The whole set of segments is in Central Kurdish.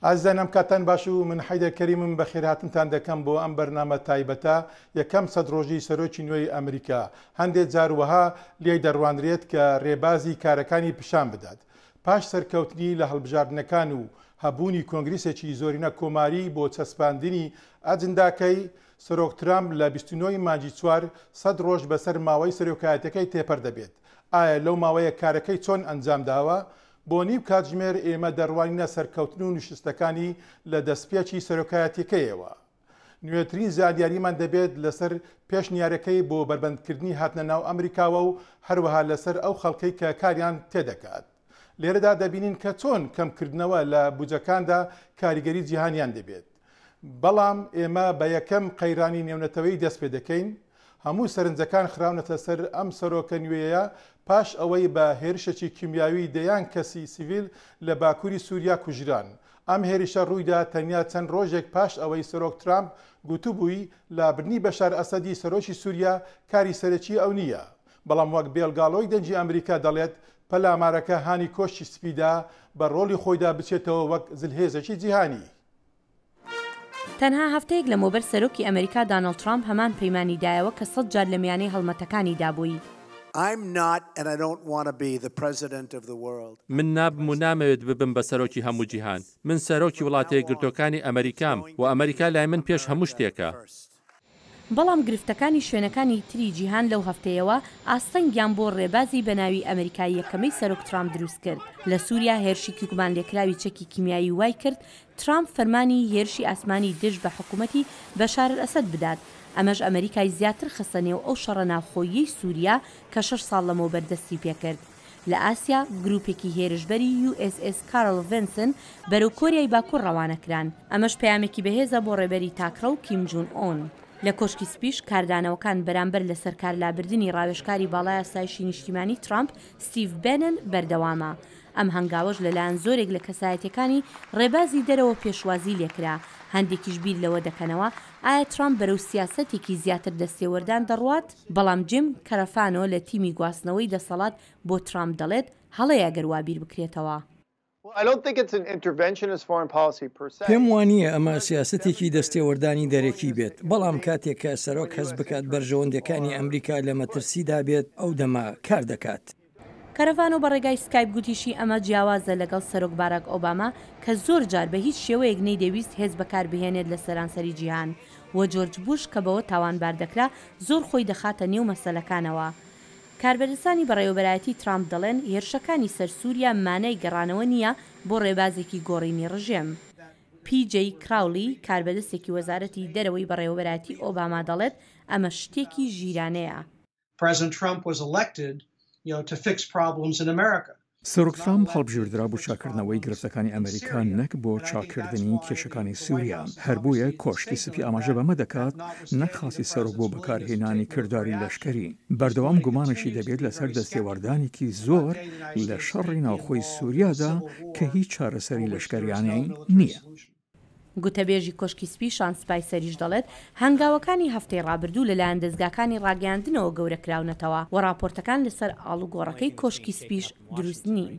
ئازیزانم کاتان باش و من حەیدە کەریمم بە خێراتنتان دەکەم بۆ ئەم بەرنامە تایبەتە یەکەم سەد ڕۆژی سەرۆکی نوێی ئەمریکا هەندێک جاروەها لێ دەڕوانرێت کە ڕێبازی کارەکانی پیشان بدات پاش سەرکەوتنی لە هەڵبژاردنەکان و هەبوونی کۆنگرسێکی زۆرینە کۆماری بۆ چەسپاندنی ئەجنداکەی، سەرۆک ترامپ لە بیست و نۆ ی مانگی چوار، سەد ڕۆژ بەسەر ماوەی سەرۆکایەتیەکەی تێپەر دەبێت. ئایا لەو ماوەیە کارەکەی چۆن ئەنجامداوە؟ بۆ نیو کاتژمێر ئێمە دەڕوانینە سەرکەوتن و نوشستەکانی لە دەستپێکی سەرۆکایەتیەکەیەوە. نوێترین زانیاریمان دەبێت لەسەر پێشنیارەکەی بۆ بەربەندکردنی هاتنە ناو ئەمریکاوە و هەروەها لەسەر ئەو خەڵکەی کە کاریان تێدەگات. لێرەدا دەبینین کە چۆن کەمکردنەوە لە بودجەکاندا کاریگەری جیهانیان دەبێت. بەڵام ئێمە بە یەکەم قەیرانی نێونەتەوەیی دەست پێدەکەین. هەموو سەرنجەکان خراونەتە سەر ئەم سەرۆکە نوێیە پاش ئەوەی بە هێرشێکی کیمیاوی دەیان کەسی سیڤیل لە باکووری سووریا کوژران. ئەم هێرشە ڕوویدا تەنیا چەند ڕۆژێک پاش ئەوەی سەرۆک ترامپ گوتبووی لابردنی بەشار ئەسەدی سەرۆکی سووریا کاری سەرەکی ئەو نییە، بەڵام وەک بێڵگاڵۆی دەنگی ئەمریکا دەڵێت پەلامارەکە هانی کۆشکی سپیدا بە ڕۆڵی خۆیدا بچێتەوە وەک زلهێزێکی جیهانی. تەنها هەفتەیەک لەمەوبەر سەرۆکی ئەمەریکا دانۆڵد ترامپ هەمان پەیمانی دایەوە کە سەد جار لە میانەی هەڵمەتەکانی دابووی. من نابم و نامەوێت ببم بە سەرۆکی هەموو جیهان. من سەرۆکی وڵاتەیەکگرتووەکانی ئەمەریکام و ئەمەریکا لای من پێش هەموو شتێکە. بەڵام گرفتەکانی شوێنەکانی تری جیهان لەو هەفتەیەوە ئاستەنگیان بۆ ڕێبازی بە ناوی ئەمریکا یەکەمەی سەرۆک ترامپ دروست کرد لە سوریا هێرشیکی گومانلێکراوی چەکی کیمیایی وای کرد ترامپ فەرمانی هێرشی ئاسمانی دژ بە حکومەتی بەشارئەسەد بدات ئەمەش ئەمریکای زیاتر خستە نێو ئەو شەڕە ناوخۆییەی سوریا کە شەش ساڵ لەمەوبەر دەستی پێکرد. لە ئاسیا، گرووپێکی هێرشبەری یو ئێس ئێس کارل ڤنسن بەرەو کۆریای باکوور ڕەوانە کران، ئەمەش پەیامێکی بەهێزە بۆ ڕێبەری تاکڕەو کیم جون ئون. لە کۆشکی سپیش، کاردانەوەکان بەرامبەر لەسەرکارلابردنی ڕاوێژکاری باڵای ئاسایشی نیشتیمانی ترامپ ستیڤ بێنن بەردەوامە، ئەم هەنگاوەش لەلایەن زۆرێک لە کەسایەتییەکانی ڕێبازی دەرەوە پێشوازی لێکرا، هەندێکیش بیر لەوە دەکەنەوە ئایا ترامپ بەرەو سیاسەتێکی زیاتر دەستێوەردان دەڕوات؟ بەڵام جیم کەرەفانۆ لە تیمی گواستنەوەی دەسەڵات بۆ ترامپ دەڵێت، هەڵەیە گەر وا بیر بکرێتەوە. پێم وانییە ئەمە سیاسەتێکی دەستێوەردانی دەرەکی بێت، بەڵام کاتێک کە سەرۆک هەست بکات بەرژەوەندییەکانی ئەمریکا لە مەترسیدا بێت، ئەو دەمە کار دەکات. کەرڤانۆ بە ڕێگای سکایپ گوتیشی ئەمە جیاوازە لەگەڵ سەرۆک باراک ئۆباما کە زۆر جار بە هیچ شێوەیەک نەیدەویست هێز بەکار بهێنێت لە سەرانسەری جیهان و جۆرج بوش کە بەوە تاوانبار دەکرا زۆر خۆی دەخاتە نێو مەسەلەکانەوە. کاربەدەستانی بەڕێوەبەرایەتی ترامپ دەڵێن هێرشەکانی سەر سوریا مانای گەڕانەوە نییە بۆ ڕێبازێکی گۆڕینی ڕژێم. پی جەی کراولی، کاربەدەستێکی وەزارەتی دەرەوەی بەڕێوەبەرایەتی ئۆباما دەڵێت ئەمە شتێکی ژیرانەیە. سەرۆک ترامپ هەڵبژێردرا بۆ چاککردنەوەی گرفتەکانی ئەمریکا نەک بۆ چاککردنی کێشەکانی سوریا، هەر بۆیە کۆشکی سپی ئاماژە بەمە دەکات نەک خواستی سەرۆک بۆ بەکارهێنانی کرداری لەشکەری. بەردەوام گومانیشی دەبێت لەسەر دەستێوەردانێکی زۆر لە شەڕی ناوخۆی سوریادا کە هیچ چارەسەری لەشکەریانەی نییە. گوتەبێژی کۆشکی سپی شان سپایسەریش دەڵێت، هەنگاوەکانی هەفتەی ڕابردوو لەلایەن دەزگاکانی ڕاگەیاندنەوە گەورەکراونەتەوە و ڕاپۆرتەکان لەسەر ئاڵوگۆڕەکەی کۆشکی سپیش دروست نین.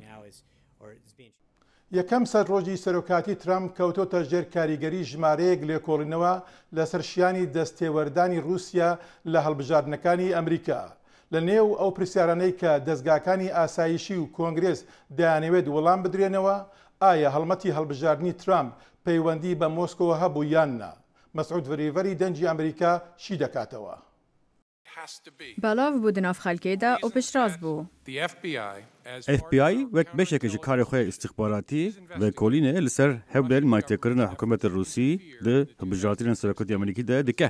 یەکەم سەد ڕۆژی سەرۆکایەتی ترەمپ کەوتۆتە ژێر کاریگەری ژمارەیەک لێکۆڵینەوە لەسەر شیانی دەستێوەردانی ڕووسیا لە هەڵبژاردنەکانی ئەمریکا. لە نێو ئەو پرسیارانەی کە دەزگاکانی ئاسایشی و کۆنگرێس دەیانەوێت وڵام بدرێنەوە، ئایا هەڵمەتی هەڵبژاردنی ترامپ پەیوەندی بە مۆسکۆوە هەبوو یان نا؟ مەسعود ڤریڤەری دەنگی ئەمریکا شی دەکاتەوە. بەڵاڤ بوو دناڤ خەلکێ دا ئەو پشتڕاست بوو. ئێف بی ئای وەک بەشێکە ژە کارێ خوێ ئیستخباراتی ڤێکۆلینێ لە سەر هەولێر مایتێکرنە حکومەتێ رووسی دە هەبژاردنێ سەرۆکەتی ئەمریکی دە دکە.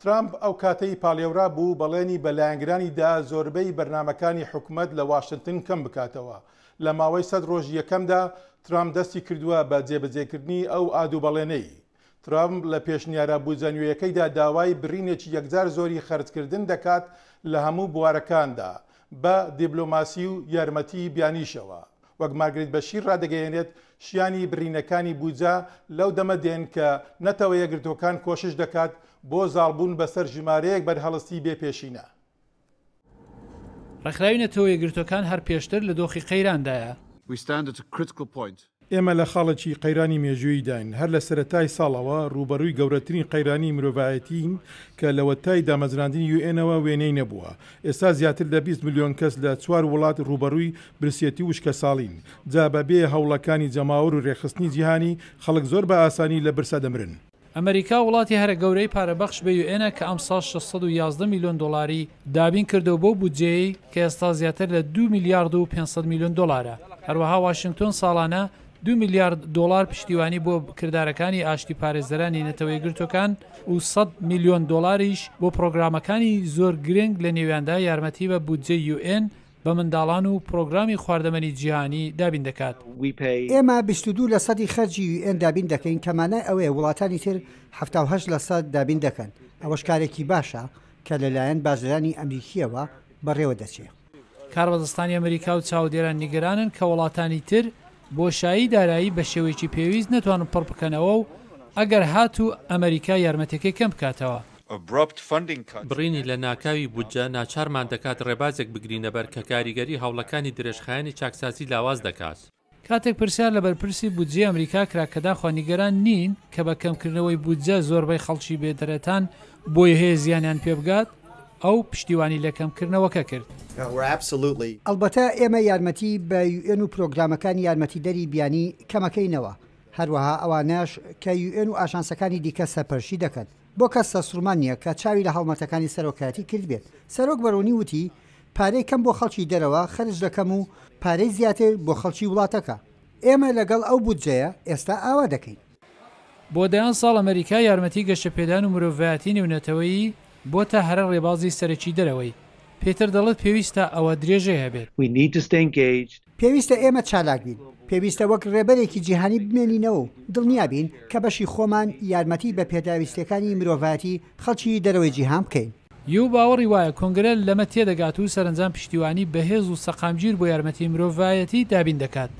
ترامپ ئەو کاتەی پاڵێورا بوو بەڵێنی بە لایەنگرانی دا زۆربەی بەرنامەکانی حکومەت لە واشنتن کەم بکاتەوە. لە ماوەی سەد ڕۆژی یەکەمدا ترامپ دەستی کردووە بە جێبەجێکردنی ئەو ئاد و بەڵێنەی. ترامپ لە پێشنیارە بودجە نوێیەکەیدا داوای برینێکی یەکجار زۆری خەرجکردن دەکات لە هەموو بوارەکاندا بە دیبلۆماسی و یارمەتی بیانیشەوە. وەک مارگریت بەشیر ڕادەگەیەنێت، شیانی بڕینەکانی بودجە لەو دەمە دێن کە نەتەوە یەکگرتووەکان کۆشش دەکات بۆ زاڵبوون بەسەر ژمارەیەک بەرهەڵستی بێ پێشینە. ڕێکخراوی نەتەوە یەکگرتووەکان هەر پێشتر لە دۆخی قەیراندایە. ئێمە لە خاڵێکی قەیرانی مێژووییداین. هەر لە سەرەتای ساڵەوە ڕووبەڕووی گەورەترین قەیرانی مرۆڤایەتیین کە لەوەتای دامەزراندنی یوئێنەوە وێنەی نەبووە. ئێستا زیاتر لە بیست ملیۆن کەس لە چوار وڵات ڕووبەڕووی برسیەتی وشکەساڵین، جا بە بێ هەوڵەکانی جەماوەر و رێکخستنی جیهانی، خەڵک زۆر بە ئاسانی لە برسا دەمرن. ئەمەریکا وڵاتی هەرە گەورەی پارەبەخش بە یو ئێنە کە ئەمساڵ شەش سەد و یازدە میلیۆن دۆڵاری دابین کردەوە بەو بودجەیەی کە ئێستا زیاتر لە دوو میلیارد و پێنج سەد میلیۆن دۆڵارە هەروەها واشنگتۆن ساڵانە دوو میلیارد دۆڵار پشتیوانی بۆ کردارەکانی ئاشتی پارێزەرانی نەتەوە یەکگرتووەکان و سەد میلیۆن دۆڵاریش بۆ پڕۆگرامەکانی زۆر گرنگ لە نێویاندا یارمەتی بە بودجەی یو ئێن بە منداڵان و پرۆگرامی خواردەمەنی جیهانی دابین دەکات. ئێمە بیست و دوو لە سەدی خەرجی یو ئێن دابین دەکەین کە مانای ئەوەیە وڵاتانی تر حەفتا و هەشت لە سەد دابین دەکەن، ئەوەش کارێکی باشە کە لەلایەن بازرانی ئەمریکییەوە بەڕێوە دەچێ. کاربەدەستانی ئەمریکا و چاودێران نیگەرانن کە وڵاتانی تر بۆشایی دارایی بە شێوەیەکی پێویست نەتوانن پڕ بکەنەوە و ئەگەر هاتوو ئەمەریکا یارمەتیەکەی کەم بکاتەوە. بڕینی لە ناکاوی بودجە ناچارمان دەکات ڕێبازێک بگرینە بەر کە کاریگەری هەوڵەکانی درێژخایەنی چاکسازی لاواز دەکات. کاتێک پرسیار لە بەرپرسی بودجەی ئەمریکا کرا کە داخوا نیگەران نین کە بە کەمکردنەوەی بودجە زۆربەی خەڵکی بێ دەرەتان بۆیە هەیە زیانیان پێبگات، ئەو پشتیوانی لە کەمکردنەوەکە کرد. ئەڵبەتە ئێمە یارمەتی بە یو ئێن و پرۆگرامەکانی یارمەتیدەری بیانی کەمەکەینەوە، هەروەها ئەوانەش کە یو ئێن و ئاژانسەکانی دیکە سەرپەرشتی دەکەن. بۆ کەس سەرسوڕمان نییە کە چاوی لە هەڵمەتەکانی سەرۆکایەتی کردبێت. سەرۆک بەڕوونی وتی، پارەی کەم بۆ خەڵکی دەرەوە خەرج دەکەم و پارەی زیاتر بۆ خەڵکی وڵاتەکە. ئێمە لەگەڵ ئەو بودجەیە ئێستا ئاوا دەکەین. بۆ دەیان ساڵ ئەمەریکا یارمەتی گەشەپێدان و مرۆڤایەتی نێونەتەوەیی بۆتە هەرە ڕێبازی سەرەکی دەرەوەی. پێتەر دەڵێت پێویستە ئەوە درێژەی هەبێت. پێویستە ئێمە چالاک بین. پێویستە وەک ڕێبەرێکی جیهانی بمێنینەوە و دڵنیا بین کە بەشی خۆمان یارمەتی بە پێداویستییەکانی مرۆڤایەتی خەڵکی دەرەوەی جیهان بکەین. یو باوەڕی وایە کۆنگرە لەمە تێدەگات و سەرەنجام پشتیوانی بەهێز و سەقامگیر بۆ یارمەتی مرۆڤایەتی دابین دەکات.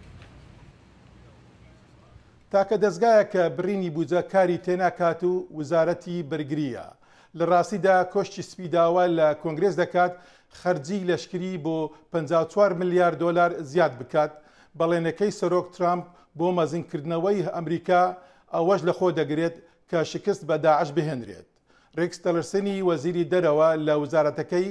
تاکە دەزگایەک کە بڕینی بودجە کاری تێناکات و وزارەتی بەرگرییە. لە راستیدا کۆشکی سپی داوا لە کۆنگرێس دەکات خەرجیی لەشکری بۆ پەنجا و چوار ملیار دۆلار زیاد بکات. بەڵێنەکەی سەرۆک ترامپ بۆ مەزنکردنەوەی ئەمریکا ئەوەش لەخۆدەگرێت کە شکست بە داعش بهێنرێت. ریکس تیلرسنی وەزیری دەرەوە لە وزارەتەکەی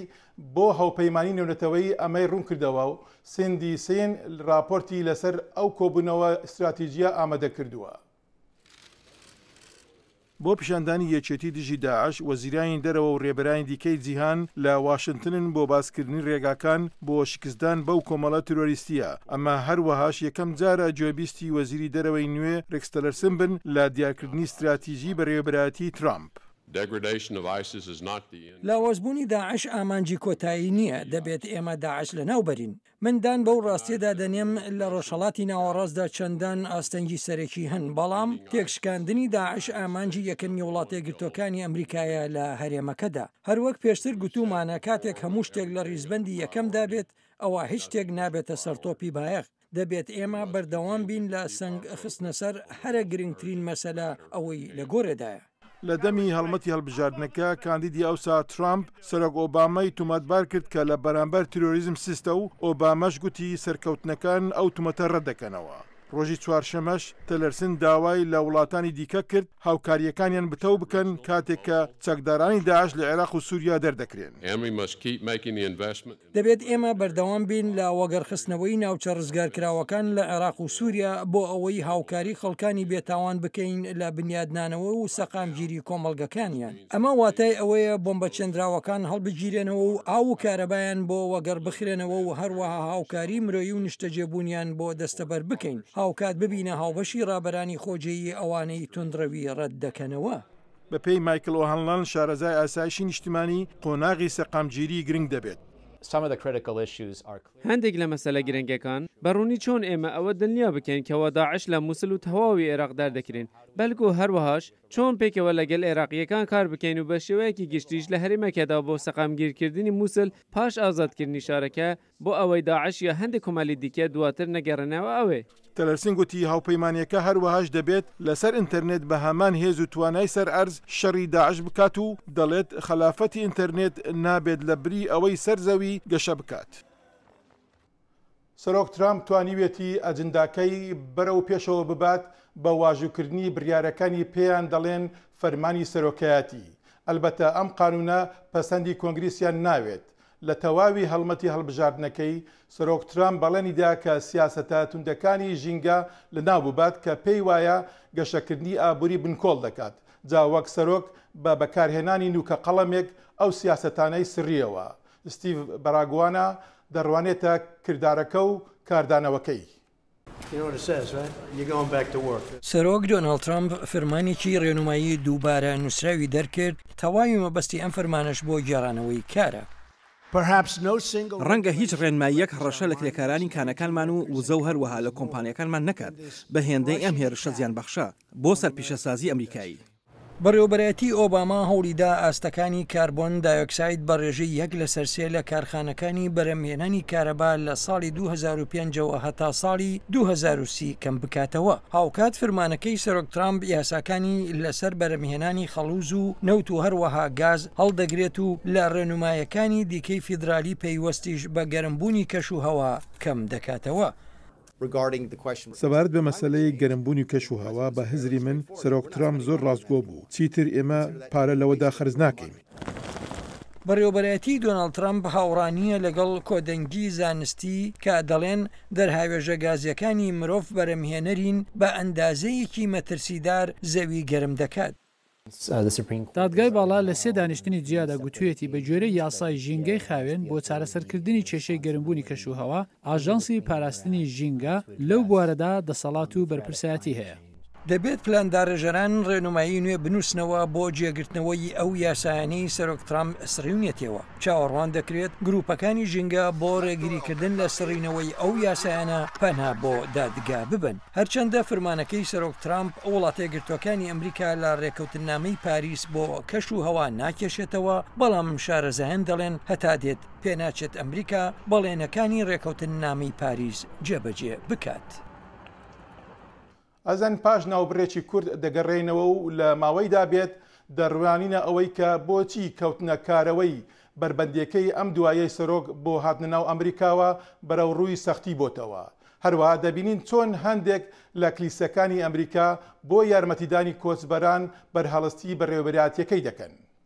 بۆ هەوپەیمانی نێونەتەوەیی ئەمەی روونکردەوە و سیندی سین راپۆرتی لەسەر ئەو کۆبوونەوە ستراتیجییە ئامەدەکردووە. بۆ پیشاندانی یەکێتی دژی داعش، وەزیرانی دەرەوە و رێبەرانی دیکەی جیهان لە واشنتنن بۆ باسکردنی رێگاکان، بۆ شکستدان بەو کۆمەڵە ترۆریستییە، ئەمە هەروەهاش یەکەم جارە گوێبیستی وەزیری دەرەوەی نوێ رێکس تەلەرسن بن لە دیارکردنی ستراتیژی بەرێوەبەرایەتیی ترامپ. لاوازبوونی داعش ئامانجی کۆتایی نییە، دەبێت ئێمە داعش لەناوبەرین. من دان بەو راستییەدا دەنێم لە رۆژهەڵاتی ناوەڕاستدا چەندان ئاستەنگی سەرەکی هەن، بەڵام تێکشکاندنی داعش ئامانجی یەکەمی وڵاتەیەکگرتووەکانی ئەمریکایە لە هەرێمەکەدا. هەر وەک پێشتر گوتوومانە کاتێک هەموو شتێک لە ڕیزبەندی یەکەمدا بێت، ئەوا هیچ شتێک نابێتە سەر تۆپی بایەخ، دەبێت ئێمە بەردەوام بین لە سەنگ خستنەسەر هەرە گرنگترین مەسەلە ئەوەی لە گۆرێدایە. لە دەمی هەڵمەتی هەڵبژاردنەکە، کاندیدی ئەوسا ترامپ، سەرۆک ئۆبامای تومەتبار کرد کە لە بەرامبەر تیرۆریزم سستە و ئۆباماش گوتی سەرکەوتنەکان ئەو تومەتە ڕەتدەکەنەوە. ڕۆژی چوارشەمەش تلرسن داوای لە وڵاتانی دیکە کرد هاوکارییەکانیان بتەو بکەن کاتێک کە چەکدارانی داعش لە عێراق و سووریا دەردەکرێن. دەبێت ئێمە بەردەوام بین لە وەگەڕخستنەوەی ناوچە ڕزگارکراوەکان لە عێراق و سووریا بۆ ئەوەی هاوکاری خەڵکانی بێتاوان بکەین لە بنیادنانەوە و سەقامگیری کۆمەڵگەکانیان. ئەمە واتای ئەوەیە بۆمبە چێندراوەکان هەڵبگیرێنەوە و ئاو و کارەبایان بۆ وەگەڕ بخرێنەوە و هەروەها هاوکاری مرۆیی و نیشتەجێبوونیان بۆ دەستەبەر بکەین، هاوکات ببینە هاوبەشی ڕابەرانی خۆجێیی ئەوانەی توندڕەوی ڕەت دەکەنەوە. بەپێی مایکڵ ئۆهانلان، شارەزای ئاسایشی نیشتمانی، قۆناغی سەقامگیری گرنگ دەبێت. هەندێک لە مەسەلە گرنگەکان، بە ڕوونی چۆن ئێمە ئەوە دڵنیا بکەین کەوا داعش لە موسڵ و تەواوی عێراق دەردەکرێن، بەلکۆ هەروەهاش چۆن پێکەوە لەگەل عێراقییەکان کار بکەین و بە شێوەیەکی گشتیش لە هەرێمەکەدا بۆ سەقامگیر کردنی موسل پاش ئازاد کردنی شارەکە بۆ ئەوەی داعش یا هەندێ کۆمەلی دیکە دواتر نەگەرێنەوە ئەوێ. تلەرسن گوتی هاوپەیمانیەکە هەروەهاش دەبێت لەسەر ئینتەرنێت بە هەمان هێز و توانای سەر ئەرز شەڕی داعش بکات و دەڵێت خەلافەتی ئینتەرنێت نابێت لە بری ئەوەی سەر زەوی گەشە بکات. سەرۆک ترامپ توانیویەتی ئەجنداکەی بەرەو پێشەوە ببات بە واژووکردنی بریارەکانی پێیان دەڵێن فەرمانی سەرۆکایەتی، ئەلبەتە ئەم قانونە پەسەندی کۆنگریسیان ناوێت. لە تەواوی هەڵمەتی هەڵبژاردنەکەی، سەرۆک ترامپ بەڵێنی دا کە سیاسەتە توندەکانی ژینگە لەناو ببات کە پێی وایە گەشەکردنی ئابوری بنکۆڵ دەکات، جا وەک سەرۆک بە بەکارهێنانی نوکە قەڵەمێک ئەو سیاسەتانەی سڕیەوە. ستیڤ باراگوانا دەڕوانێتە کردارەکە و کاردانەوەکەی. سەرۆک دۆناڵد ترەمپ فرمانێکی رێنومایی دووبارە نووسراوی دەرکرد، تەواوی مەبەستی ئەم فرمانەش بۆ گێڕانەوەی کارە. رەنگە هیچ رێنماییەک هەڕەشە لە کرێکارانی کانەکانمان و وزە و هەروەها لە کۆمپانیاکانمان نەکات بە هێندەی ئەم هێرشە زیانبەخشە بۆ سەر پیشەسازی ئەمریکایی. بەڕێوەبەرایەتی ئۆباما هەوڵیدا ئاستەکانی کاربۆن دایۆکساید بە ڕێژەی یەک لەسەر سێ لە کارخانەکانی بەرهەمهێنانی کارەبا لە ساڵی دوو هەزار و پێنج ەوە هەتا ساڵی دوو هەزار و سی کەم بکاتەوە، هاوکات فرمانەکەی سەرۆک ترامپ یاساکانی لەسەر بەرهەمهێنانی خەڵوز و نەوت و هەروەها گاز هەڵدەگرێت و لە ڕێنومایەکانی دیکەی فیدرالی پەیوەستیش بە گەرمبوونی کەشوهەوا کەم دەکاتەوە. سەبارەت بە مەسەلەی گەرمبوونی کەش و هەوا، بە هزری من سەرۆک ترامپ زۆر ڕاستگۆ بوو، چیتر ئێمە پارە لەوەدا خەرج ناکەین. بەڕێوەبەرایەتیی دۆناڵد ترەمپ هاوڕا نییە لەگەڵ کۆدەنگی زانستی کە دەڵێن دەرهاوێژە گازییەکانی مرۆڤ بەرهەمهێنەرین بە ئەندازەیەکی مەترسیدار زەوی گەرم دەکات. دادگای باڵا لە سێ دانیشتنی جیادا گوتوویەتی بە گوێرەی یاسای ژینگەی خاوێن بۆ چارەسەرکردنی کێشەی گەرمبوونی کەشوهەوا، ئاژانسی پاراستنی ژینگە لەو بوارەدا دەسەڵات و بەرپرسایەتی هەیە. دەبێت پلانداڕێژەران ڕێنمایی نوێ بنووسنەوە بۆ جێگرتنەوەی ئەو یاسایانەی سەرۆک ترەمپ سڕیونیەتیەوە. چاوەڕوان دەکرێت گروپەکانی ژینگە بۆ ڕێگریکردن لە سڕینەوەی ئەو یاسایانە پەنا بۆ دادگا ببەن هەرچەندە فرمانەکەی سەرۆک ترامپ وڵاتێگرتوەکانی ئەمریکا لە ڕێکەوتنامەی پاریس بۆ کەش و هەوا ناکێشێتەوە بەڵام شارەزایان دەڵێن هەتا دێت پێناچێت ئەمریکا بەڵێنەکانی ڕێکەوتننامەی پاریس جێبەجێ بکات. ئەزان پاش ناوبڕێکی کورت دەگەڕێینەوە و لە ماوەیدا بێت دەڕوانینە ئەوەی کە بۆچی کەوتنە کارەوەی بەربەندێکەی ئەم دوایەی سەرۆک بۆ هاتنە ناو ئەمریکاوە بەرەو ڕووی سەختی بۆتەوە هەروەها دەبینین چۆن هەندێک لە کلیسەکانی ئەمریکا بۆ یارمەتیدانی کۆچبەران بەرهەڵستی بەڕێوەبەرایەتیەکەی دەکەن.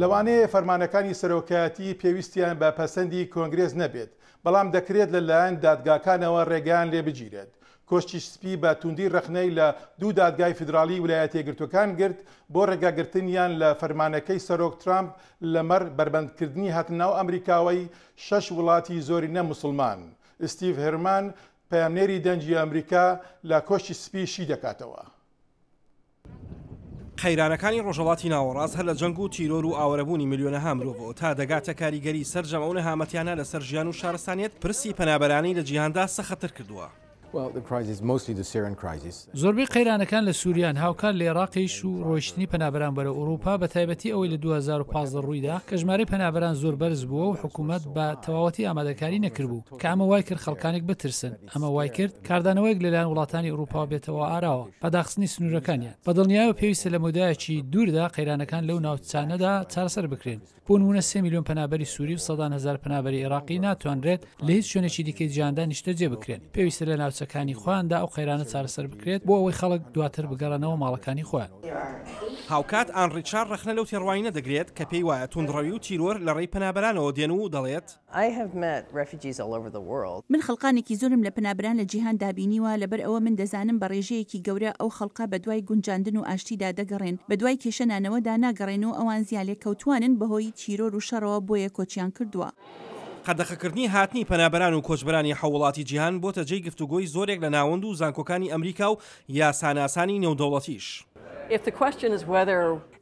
لەوانەیە فەرمانەکانی سەرۆکایەتی پێویستیان بە پەسەندی کۆنگرێس نەبێت، بەڵام دەکرێت لەلایەن دادگاکانەوە ڕێگەیان لێ بگیرێت. کۆشکی سپی بە تووندی ڕەخنەی لە دوو دادگای فیدراڵی ولایەتە یەکگرتووەکان گرت بۆ ڕێگاگرتنیان لە فەرمانەکەی سەرۆک ترامپ لەمەڕ بەربەندکردنی هاتنەناو ئەمریکاوەی شەش وڵاتی زۆرینە موسڵمان ستیڤ هێرمان، پەیامنێری دەنگی ئەمریکا لە کۆشکی سپی شیدەکاتەوە. قەیرانەکانی ڕۆژهەڵاتی ناوەڕاست هەر لە جەنگ و تیرۆر و ئاوەرەبوونی ملیۆنەها مرۆڤەوە تا دەگاتە کاریگەری سەرجەم ئەو نەهامەتیانە لەسەر ژیان و شارستانیەت، پرسی پەنابەرانی لە جیهاندا سەختتر کردووە. زۆربەی قەیرانەکان لە سوریان، هاوکات لە ئێڕاقیش و ڕۆیشتنی پەنابەران بەرەو ئوڕووپا، بەتایبەتی ئەوەی لە دوو هەزار و پازدە ڕوویدا کە ژمارەی پەنابەران زۆر بەرز بووە و حکوومەت بە تەواوەتی ئامادەکاری نەکردبوو کە ئەمە وایکرد خەڵکانێک بترسن، ئەمە وایکرد کاردانەوەیەک لەلایەن وڵاتانی ئوڕووپاوە بێتەوە ئاراوە بە داخستنی سنوورەکانیان. بەدڵنیایەوە پێویستە لە مەودایەکی دووردا قەیرانەکان لەو ناوچانەدا چارەسەر بکرێن. بۆ نموونە سێ ملیۆن پەنابەری سووری و سەدان هەزار پەنابەری عێراقی ناتوانرێت لە هیچ شوێنێکی دیکەی جیهاندا نیشتەجێ بکرێن، پێویستە لە ناوچەکانی خۆیاندا ئەو قەیرانە چارەسەر بکرێت بۆ ئەوەی خەڵک دواتر بگەڕێنەوە ماڵەکانی خۆیان. هاوکات ئان ڕیچار ڕەخنە لەو تێڕوانینە دەگرێت کە پێی وایە توندڕەوی و تیرۆر لە ڕێی پەنابەرانەوە دێن و دەڵێت، I have met refugees all over the world. من خەڵقانێکی زۆرم لە پەنابەران لە جیهان دا بینیوە، لەبەر ئەوە من دەزانم بە ڕێژەیەکی گەورە ئەو خەڵقە بە دوای گونجاندن و ئاشتی دا دەگەڕێن، بە دوای کێشە نانەوە دا ناگەڕێن و ئەوان زیانلێکەوتووانن بە هۆی تیرۆر و شەڕەوە بۆیە کۆچیان کردووە. قەدەخە کردنی هاتنی پەنابەران و کۆچبەرانی حەو وڵاتی جیهان بۆتە جێی گفتوگۆی زۆرێک لە ناوەند و زانکۆکانی ئەمریکا و یاساناسانی نێودەوڵەتیش.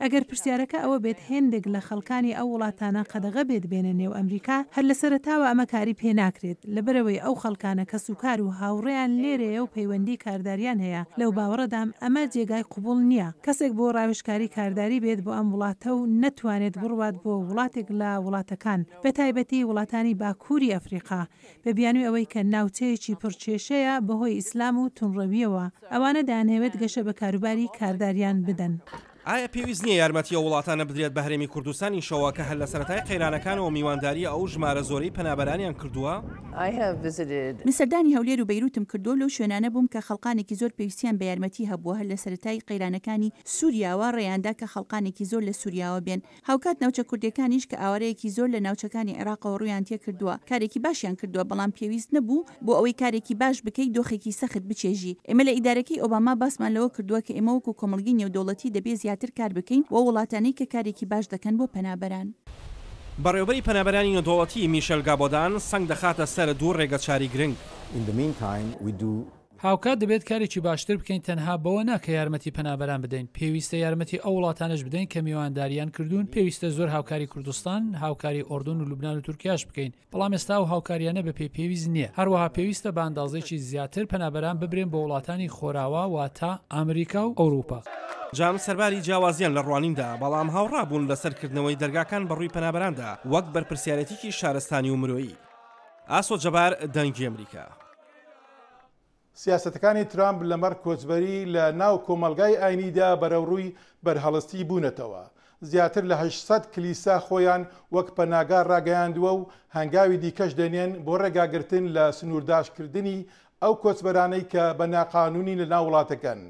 ئەگەر پرسیارەکە ئەوە بێت هێندێک لە خەڵکانی ئەو وڵاتانە قەدەغە بێت بێنە نێو ئەمریکا، هەر لە سەرەتاوە ئەمە کاری پێ ناکرێت، لەبەرئەوەی ئەو خەڵکانە کەسوکار و هاوڕێیان لێرەیە و پەیوەندی کارداریان هەیە، لەو باوەڕەدام ئەمە جێگای قبوڵ نییە کەسێک بۆ راوێژکاری کارداری بێت بۆ ئەم وڵاتە و نەتوانێت بڕوات بۆ وڵاتێک لە وڵاتەکان بەتایبەتی وڵاتانی باکووری ئەفریقا بە بیانوی ئەوەی کە ناوچەیەکی پڕ کێشەیە بەهۆی ئیسلام و تونڕەوییەوە، ئەوانە دەیانهەوێت گەشە بە کاروباری کارداریان بدەن. ئایا پێویست نییە یارمەتی ئەو وڵاتانە بدرێت بە هەرێمی کوردستانیشەوە کە هەر لە سەرەتای قەیرانەکانەوە میوانداریی ئەو ژمارە زۆرەی پەنابەرانیان کردووە؟ من سەردانی هەولێر و بەیروتم کردووە و لەو شوێنانە بووم کە خەڵقانێکی زۆر پێویستیان بە یارمەتی هەبووە، هەر لە سەرەتای قەیرانەکانی سوریاوە ڕێیاندا کە خەڵقانێکی زۆر لە سوریاوە بێن، هاوکات ناوچە کوردیەکانیش کە ئاوارەیەکی زۆر لە ناوچەکانی عێراقەوە ڕوویان تێکردووە کارێکی باشیان کردووە بەڵام پێویست نەبوو بۆ ئەوەی کارێکی باش بکەی دۆخێکی سەخت بچێژی ئێمە لە ئیدارەکەی ئۆباما باسمان لەوە کردووە کە ئێمە وەکو کۆمەڵگەی نێودەوڵەتی دەبێ زیاتر کار بکەین بۆ ئەو وڵاتانەی کە کارێکی باش دەکەن بۆ پەنابەران. بەڕێوەبەری پەنابەرانی نێودەوڵەتی میشێل گابۆدان سەنگ دەخاتە سەر دوو ڕێگەچاری گرنگ. هاوکات دەبێت کارێکی باشتر بکەین تەنها بەوە نا کە یارمەتی پەنابەران بدەین، پێویستە یارمەتی ئەو وڵاتانەش بدەین کە میوانداریان کردوون، پێویستە زۆر هاوکاری کوردستان، هاوکاری ئۆردۆن و لوبنان و تورکیاش بکەین، بەڵام ئێستا ئەو هاوکاریانە بە پێی پێویست نییە، هەروەها پێویستە بە ئەندازەیەکی زیاتر پەنابەران ببرێن بۆ وڵاتانی خۆراوا واتە ئامریکا و ئەوروپا. جام سەرباری جیاوازیان لە ڕوانیندا، بەڵام هاوڕا بوون لەسەر کردنەوەی دەرگاکان بەڕووی پەنابەراندا وەک بەرپرسیارێتیکی شارستانی و مرۆیی. ئاسۆ جەبار، دەنگی ئەمریکا. سیاسەتەکانی ترامپ لەمەڕ کۆچبەری لە ناو کۆمەڵگای ئاینیدا بەرەوڕووی بەرهەڵستی بوونەتەوە، زیاتر لە هەشت سەد کلیسا خۆیان وەک پەناگا ڕاگەیاندووە و هەنگاوی دیکەش دەنێن بۆ ڕێگاگرتن لە سنوورداشکردنی ئەو کۆچبەرانەی کە بە ناقانوونی لە ناو وڵاتەکەن.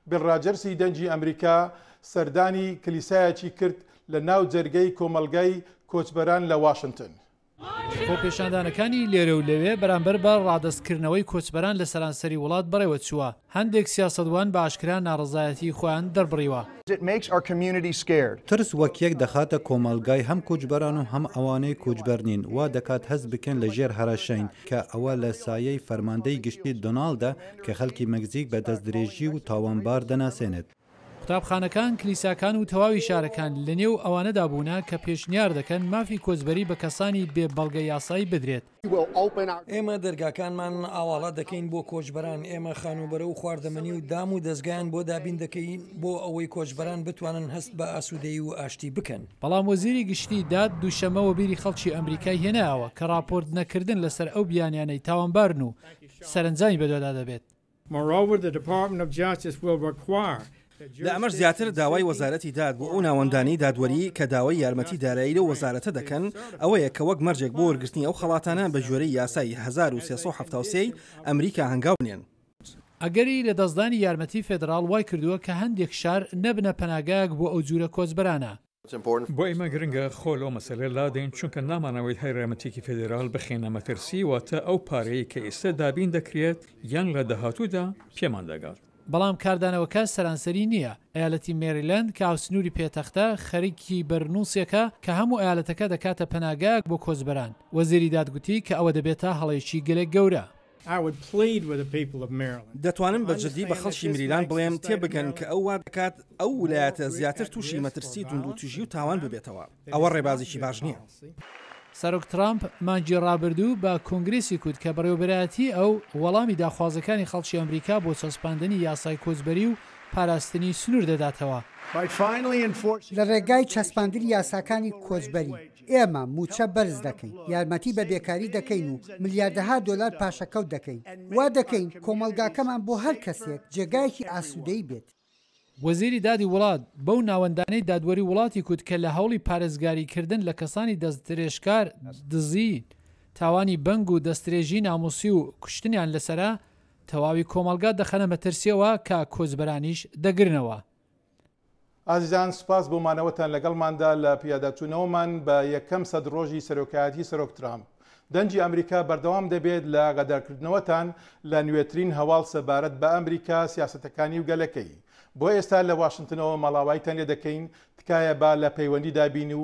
بیڵ ڕاجەرسی دەنگی ئەمریکا سەردانی کلیسایەکی کرد لە ناو جەرگەی کۆمەڵگای کۆچبەران لە واشنتن. خۆپێشاندانەکانی لێرە و لەوێ بەرامبەر بە ڕادەستکردنەوەی کۆچبەران لە سەرانسەری وڵات بەڕێوە چووە، هەندێک سیاسەتوان بە ئاشکرا ناڕەزایەتیی خۆیان دەربڕیوە. ترس وەک یەک دەخاتە کۆمەڵگای هەم کۆچبەران و هەم ئەوانەی کۆچبەر نین، وا دەکات هەست بکەن لە ژێر هەڕەشەین، کە ئەوە لە سایەی فەرماندەی گشتی دۆناڵدە کە خەڵکی مەکزیک بە دەستدرێژی و تاوانبار دەناسێنێت. قوتابخانەکان، کلیساکان و تەواوی شارەکان لە نێو ئەوانەدا بوونە کە پێشنیار دەکەن مافی کۆچبەری بە کەسانی بێ بەڵگە یاسایی بدرێت. ئێمە دەرگاکانمان ئاواڵا دەکەین بۆ کۆچبەران، ئێمە خانووبەرە و خواردەمەنی و دام و دەزگایان بۆ دابین دەکەین بۆ ئەوەی کۆچبەران بتوانن هەست بە ئاسوودەیی و ئاشتی بکەن. بەڵام وەزیری گشتی داد دووشەممە وەبیری خەڵکی ئەمریکای هێنایەوە کە ڕاپۆرت نەکردن لەسەر ئەو بیانیانەی تاوانبارن و سەرەنجامی بەدوادا دەبێت. لە ئەمەش زیاتر داوای وەزارەتی داد بۆ ئەو ناوەندانەی دادوەری کە داوای یارمەتی دارایی لەو وەزارەتە دەکەن ئەوەیە کە وەک مەرجێک بۆ وەرگرتنی ئەو خەڵاتانە بە گوێرەی یاسای هەزار و سێ سەد و حەفتا و سێ ی ئەمریکا هەنگاو بنێن. ئەگەری لەدەستدانی یارمەتی فیدراڵ وایکردووە کە هەندێک شار نەبنە پەناگایەک بۆ ئەو جورە کۆچبەرانە، بۆ ئێمە گرنگە خۆ لەو مەسەلە لادەین، چونکە نامانەوەی هەرێمەتێکی فیدراڵ بخەینە مەترسی، واتە ئەو پارەیەی کە ئێستا دابین دەکرێت یان لە داهاتوودا پێمان دەگات. بەڵام کاردانەوەکە سەرانسەری نییە، ئەیالەتی مێریلەند کە هاوسنووری پێتەختە، خەریکی بەرنووسێکە کە هەموو ئەیالەتەکە دەکاتە پەناگایەک بۆ کۆچبەران. وەزیری داد گوتی کە ئەوە دەبێتە هەڵەیەکی گەلێک گەورە. دەتوانم بە جدی بە خەڵکی مریلاند بڵێم تێبگەن کە ئەو وادەکات ئەو ولایەتە زیاتر توشی مەترسی توندوتیژی و تاوان ببێتەوە. ئەوە ڕێبازێکی باش نیە. سەرۆک ترامپ مانگی ڕابردوو بە کۆنگرێسی کوت کە بەڕێوەبەرایەتی ئەو وەڵامی داخوازەکانی خەڵکی ئەمریکا بۆ چەسپاندنی یاسای کۆچبەری و پاراستنی سنور دەداتەوە. لە ڕێگای چەسپاندنی یاساکانی کۆچبەری، ئێمە مووچە بەرز دەکەین، یارمەتی بە بێکاری دەکەین و ملیاردەها دۆلار پاشەکەوت دەکەین. وا دەکەین کۆمەڵگاکەمان بۆ هەر کەسێک جێگایەکی ئاسوودەیی بێت. وەزیری دادی وڵات بەو ناوەندانەی دادوەری وڵاتی کوت کە لە هەوڵی پارێزگاریکردن لە کەسانی دەستدرێژکار، دزی، تاوانی بەنگ و دەسترێژی نامووسی و کوشتنیان لەسەرە، تەواوی کۆمەڵگا دەخەنە مەترسییەوە کە کۆچبەرانیش دەگرنەوە. ئازیزان سوپاس بۆ مانەوەتان لەگەڵماندا لە پیاداچوونەوەمان بە یەکەم سەد ڕۆژی سەرۆکایەتی سەرۆک ترامپ. دەنگی ئەمریکا بەردەوام دەبێت لە غەدەرکردنەوەتان لە نوێترین هەواڵ سەبارەت بە ئەمریکا، سیاسەتەکانی و گەلەکەی. بۆ ئێستا لە واشنتنەوە ماڵاواییتان لێدەکەین، تکایە با لە پەیوەندیدا بین و